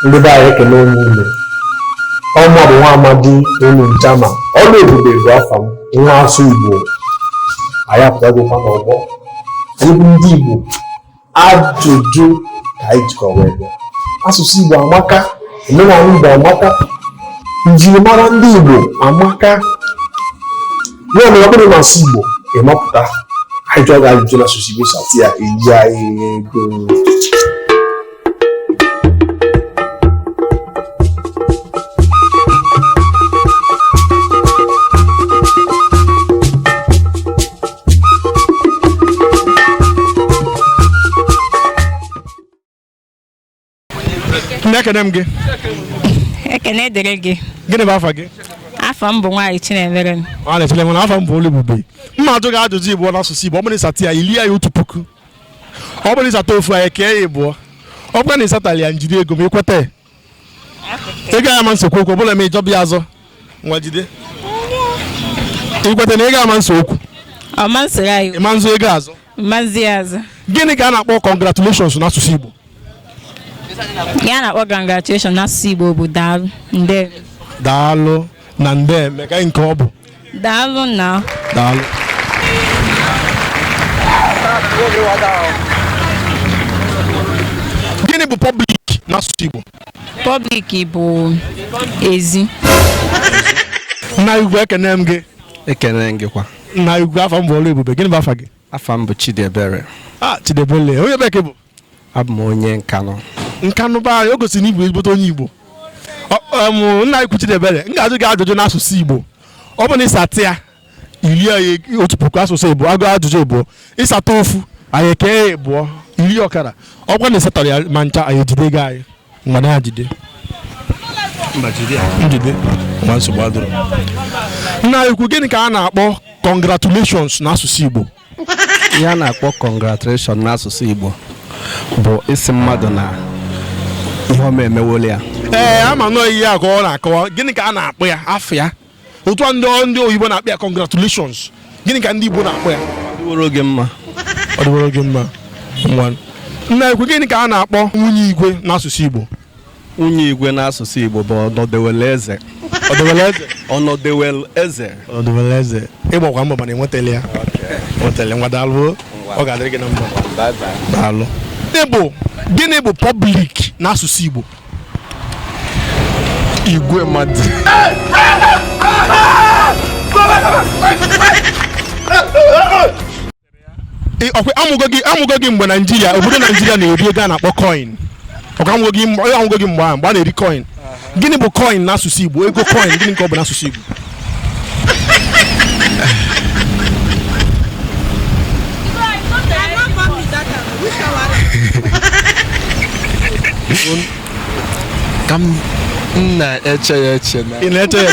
ndị be anyị ekele m unu ọ mmadụ nwa amadi onye njama oluebube bụ afa m nwa asụ igbo anyị apụtagokwa n'ọgbọ anyị bụ ndị igbo ajụjụ ka anyị jikwa wee bịa asụsụ igbo amaka omenala igbo amaka njirimara ndị igbo amaka ya mere ọ bụrụ na asụ igbo ị mapụta anyị jụọ gị ajụjụ na asụsụ igbo satị ya irie anyị ego nna ekene m gị ekene dịrị gị gịnị bụ afa gị afa m bụ Nwachinemerem Nwachinemere afa m bụ Oluebube m ma-ajụ gị ajụjụ ịbụọ n'asụsụ Igbo ọ bụrụ ịsatị ya ilie ya otu puku ọ bụrụ ịsata ofu anyị ekee ya ịbụọ ọ bụkwa na ịsatarọ ya njide ego m ikweta ị gaghị ama esekwu okwu ọbụla ma ịzọba ya azọ nwa jide ikweta na ị gaghị ama ese okwu ị ma-azọ ego azọ gịnị ka a na-akpọ congratulations n'asụsụ Igbo ihe a na-akpọ congratulation n'asụsụ Igbo bụ daalụ nde daalụ na ndeme kee nke ọ bụ daalụ na daalụ gịnị bụ pọblik n'asụsụ Igbo pọblik bụ ezi nna ukwu ekene m gị ekene gị kwa nna ukwu afa m bụ Oluebube gịnị bụ afa gị afa m bụ Chidiebere ah Chidiebere onye ebee ka ị bụ abụ m onye nkanụ nkanụ be anyị o gosiri na ị bụ ezigbote onye igbo nna ukwu chidiebere m ga-ajụ gị ajụjụ n'asụsụ igbo ọ bụ na ịsatị ya iri ya otu puku asụsụ igbo agụ ajụjụ ịbụọ ịsata ofu anyị ekee ya ịbụọ iri ọkara ọ bụkwa na ịsatarọ ya ma ncha anyị ejide ego anyị mgbe na ajide njide ma nsogbu adịrọ nna ukwu gịnị ka a na-akpọ congratulations n'asụsụ igbo ihe a na-akpọ congratulation n'asụsụ Igbo bụ ịsị mmadụ na ihe ọma emewole ya ee ama m na ọ ihe a ka ọ na-akọwa gịnị ka a na-akpọ ya afa ya otu a ndị ndị oyibo na-akpọ ya congratulations gịnị ka ndị Igbo na-akpọ ya ọ dịworo gị mma ọ dịworo gị mma nna ukwu gịnị ka a na-akpọ nwunye igwe n'asụsụ Igbo nwunye igwe n'asụsụ Igbo bụ ọnọdewele eze ọnọdewele eze ọnọdewele eze ọnọdewele eze ị gbakwa mbọ mana inweterọ ya nweterọ ngwa daalụ ọ ga-adịrị gị na mma daalụ ịbụ gịnị bụ pọblik n'asụsụ Igbo igwe mmadụ amụgo gị amụgo gị mgbe naijiria obodo naijiria na-eri ego a na-akpọ coin ọkwa amụgo gị mgbe ahụ mgbe a na-eri coin gịnị bụ coin n'asụsụ igbo ego coin gịnị ka ọ bụ n'asụsụ igbo ka m na-eche ya eche na ị na-eche ya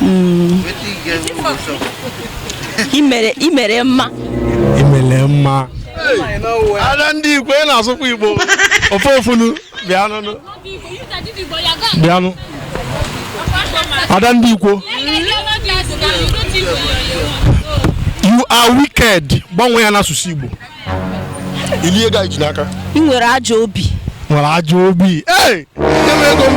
Mm. I mere i mere mma. I mere mma. Ada ndị Igbo ị na-asụkwa Igbo. Ofe ofunu bịanụ. Bịanụ. Ada ndị Igbo. You are wicked. Gbanwee ya n'asụsụ Igbo. I lie ego anyị ji n'aka. Ị nwere ajọ obi. Nwere ajọ obi. Ee! Nye m ego m.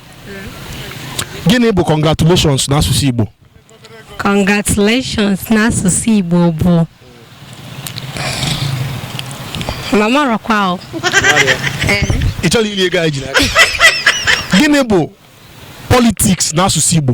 gịnị bụ congratulations n'asụsụ Igbo congratulations n'asụsụ Igbo bụ mụ amarọkwa o ị chọrọ iri ego anyị ji n'aka gịnị bụ politiks n'asụsụ Igbo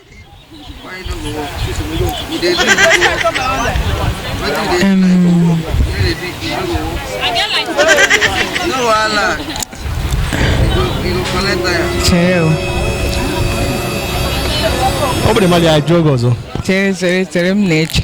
Chere o. ọ bụrụ mmadụ ya jụọ gị ọzọ Chere chere chere m na-eche.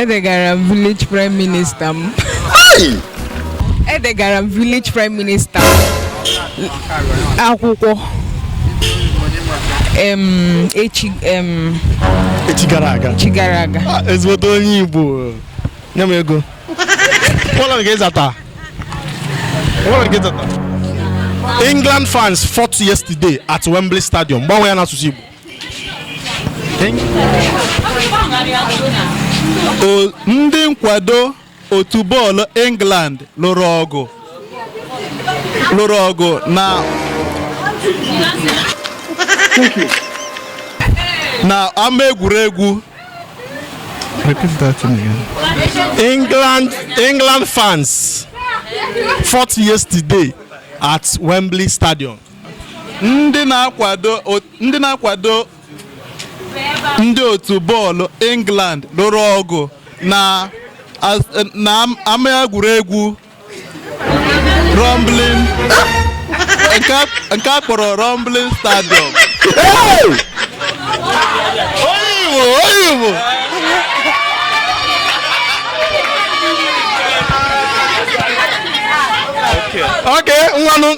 edegara m village prime minister m edegara m village prime minister m akwụkwọ em, echi em, echi gara aga echi gara aga Ah, ezigbote onye igbo nye m ego ụlọ nke ịzata ụlọ nke ịzata england fans fought yesterday at wembley stadium gbanwe ya n'asụsụ igbo ndị nkwado otu bọọlụ England lụrụ ọgụ lụrụ ọgụ na na ama egwuregwu England England fans fought yesterday at Wembley Stadium. ndị na-akwado ndị na-akwado ndị otu bọọlụ England lụrụ ọgụ na ama egwuregwu Wembley nke a kpọrọ Wembley stadium Okay, ngwanụ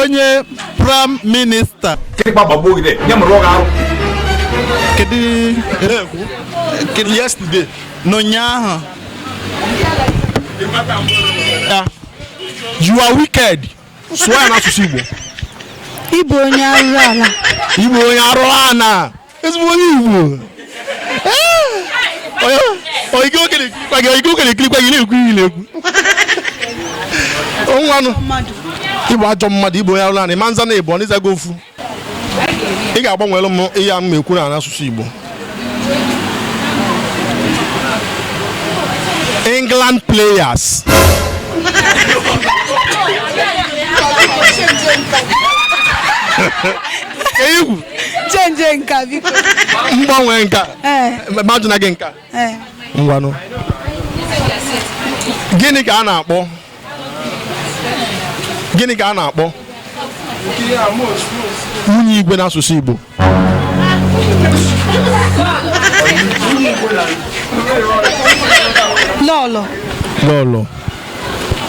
onye prime minister kedu yesterday n'ụnyaahụ you are wicked sụọ ya n'asụsụ Igbo ị bụ onye arụ ala ị bụ onye arụ ala ezigbo onye igbo oyigo oge na-ekirikwa gị oyigo oge na-ekirikwa gị na-ekwu ihe na-ekwu ngwanụ ị bụ ajọ mmadụ ị bụ onye arụ naanị ma nza na ị bụ ọ ị zago ofu ị ga-agbanwere m ihe a m ekwu n'asụsụ igbo england players egwu change nke a biko m gbanwee nke a ee mmadụ na gị nke a ee ngwanụ gịnị ka a na-akpọ gịnị ka a na-akpọ nwunye igwe n'asụsụ Igbo lọlọ lọlọ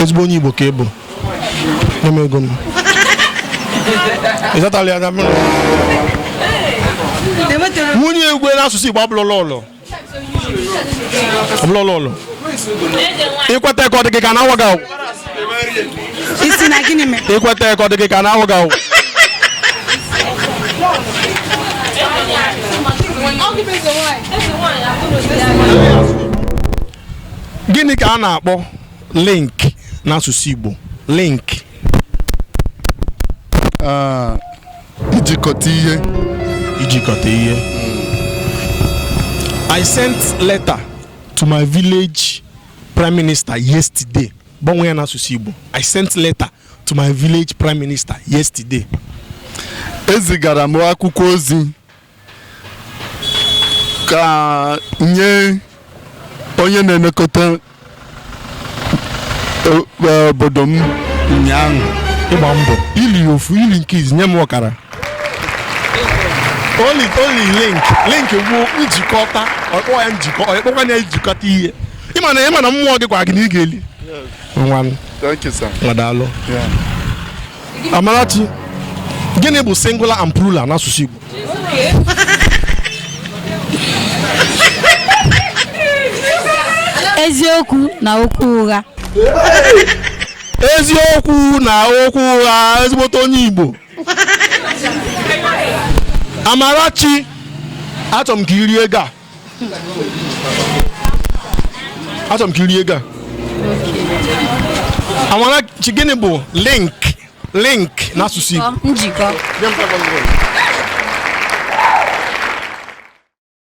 ezigbo onye Igbo ka ị bụ nye m ego m ị zatala ya na mmiri nwunye igwe n'asụsụ Igbo abụrọ lọlọ abụrọ lọlọ ị kweta ka ọ dị gị ka na awa gị awụ isi na gịnị mere ị kweta ka ọ dị gị ka na awa gị awụ gịnị ka a na-akpọ link n'asụsụ Igbo link ah, ijikọta ihe ijikọta ihe I sent letter to my village prime minister yesterday gbanwee ya n'asụsụ Igbo I sent letter to my village prime minister yesterday ezigara m akwụkwọ ozi ka nye onye na-elekọta o- e, obodo m ụnyaahụ ị gba mbọ i li ofu i li nke izi nye m ọkara oli oli link link bụ njikọta ọ kpọ ya njikọ ọ kpọkwa ya njikọta ihe ị ma na ị ma na mmụọ gị gwara gị na ị ga-eli ngwanụ thank you sir ngwa daalụ Yeah. Amarachi, gịnị bụ singular and plural n'asụsụ Igbo? eziokwu na okwu ụgha eziokwu na okwu ụgha ezigbote onye Igbo Amarachi achọrọ m ka i rie ego a achọrọ m ka i rie ego a Amarachi gịnị bụ link link n'asụsụ Igbo njikọ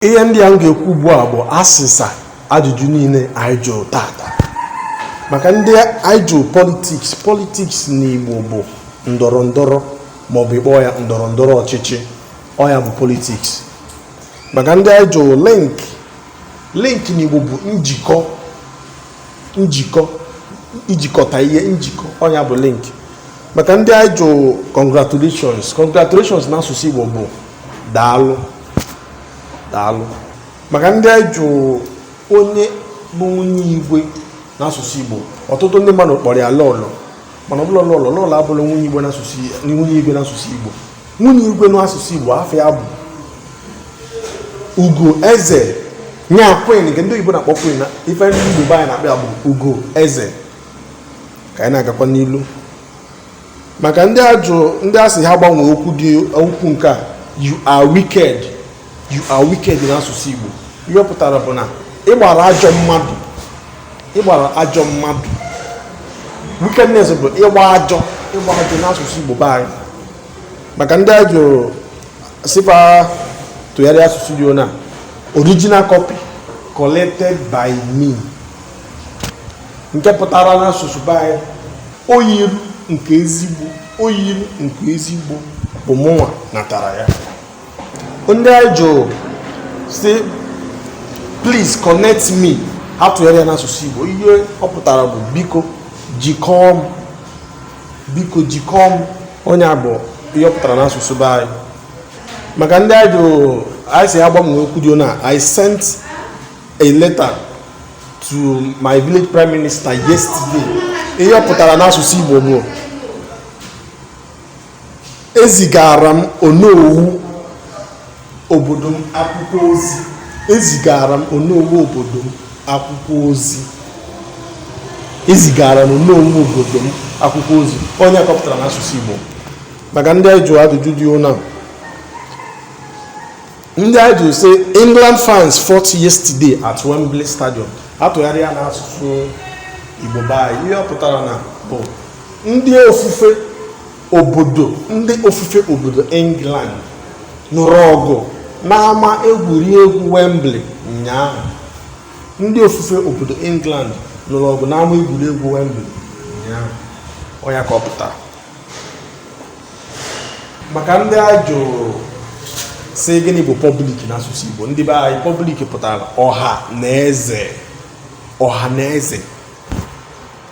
ihe ndị a m ga-ekwu ugbu a bụ asịsa ajụjụ niile anyị jụrụ tata maka ndị anyị jụrụ politiks politiks n'Igbo bụ ndọrọ ndọrọ maọbụ ị kpọọ ya ndọrọ ndọrọ ọchịchị ọ nya bụ politiks maka ndị anyị jụrụ link link n'Igbo bụ njikọ njikọ ijikọta ihe njikọ ọ nya bụ link maka ndị anyị jụrụ congratulations congratulations n'asụsụ Igbo bụ daalụ daalụ maka ndị anyị jụrụ onye bụ nwunye igwe n'asụsụ Igbo ọtụtụ ndị mmadụ kpọrọ ya lọlọ mana ọ bụrọ lọlọ lọlọ abụrọ nwunye igwe n'asụsụ nwunye igwe n'asụsụ Igbo nwunye igwe n'asụsụ Igbo afa ya bụ ugo eze nya queen nke ndị oyibo na-akpọ queen ife ndị Igbo be anyị na-akpọ ya bụ ugo eze ka anyị na-agakwa n'ilu maka ndị a jụ ndị a sị ha gbanwee okwu dị okwu nke a you are wicked you are wicked n'asụsụ Igbo ihe ọ pụtara bụ na ị gbara ajọ mmadụ ị gbara ajọ mmadụ wickedness bụ ịgba ajọ ịgba ajọ n'asụsụ Igbo be anyị maka ndị a jụrụ sị fa tụgharịa asụsụ dị na original copy collected by me nke pụtara n'asụsụ be anyị oyiru nke ezigbo oyiru nke ezigbo bụ mụnwa natara ya ndị anyị jụrụ sị please connect me ha tụgharịa ya n'asụsụ Igbo ihe ọ pụtara bụ biko jikọọ m biko jikọọ m ọ nya bụ ihe ọ pụtara n'asụsụ be anyị maka ndị anyị jụrụ anyị sị ha gbanwee okwu dị na I sent a letter to my village prime minister yesterday ihe ọ pụtara n'asụsụ Igbo bụ ezigara m onowu obodo m akwụkwọ ozi ezigara m onowu obodo m akwụkwọ ozi ezigara m onowu obodo m akwụkwọ ozi ọ nya ka ọ pụtara n'asụsụ Igbo maka ndị anyị jụrụ ajụjụ dị ụna ndị anyị jụrụ sị England fans fought yesterday at Wembley Stadium a tụgharịa n'asụsụ Igbo be anyị ihe ọ pụtara na bụ ndị ofufe obodo ndị ofufe obodo england nụrụ ọgụ n'ama egwuregwu wembley ụnyaahụ ndị ofufe obodo england nụrụ ọgụ n'ama egwuregwu wembley ụnyaahụ ọ nya ka ọ pụtara maka ndị a jụrụ sị gịnị bụ public n'asụsụ igbo ndị be anyị public pụtara ọha na eze ọha na eze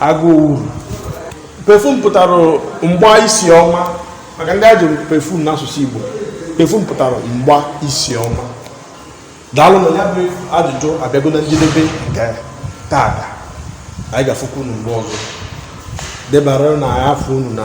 agụụ perfume pụtara mgba isi ọma maka ndị a jụrụ perfume n'asụsụ Igbo perfume pụtara mgba isi ọma daalụ na ya bụ ajụjụ a bịago na njedebe nke taata anyị ga-afụkwa unu mgbe ọzọ debara na a fụ unu na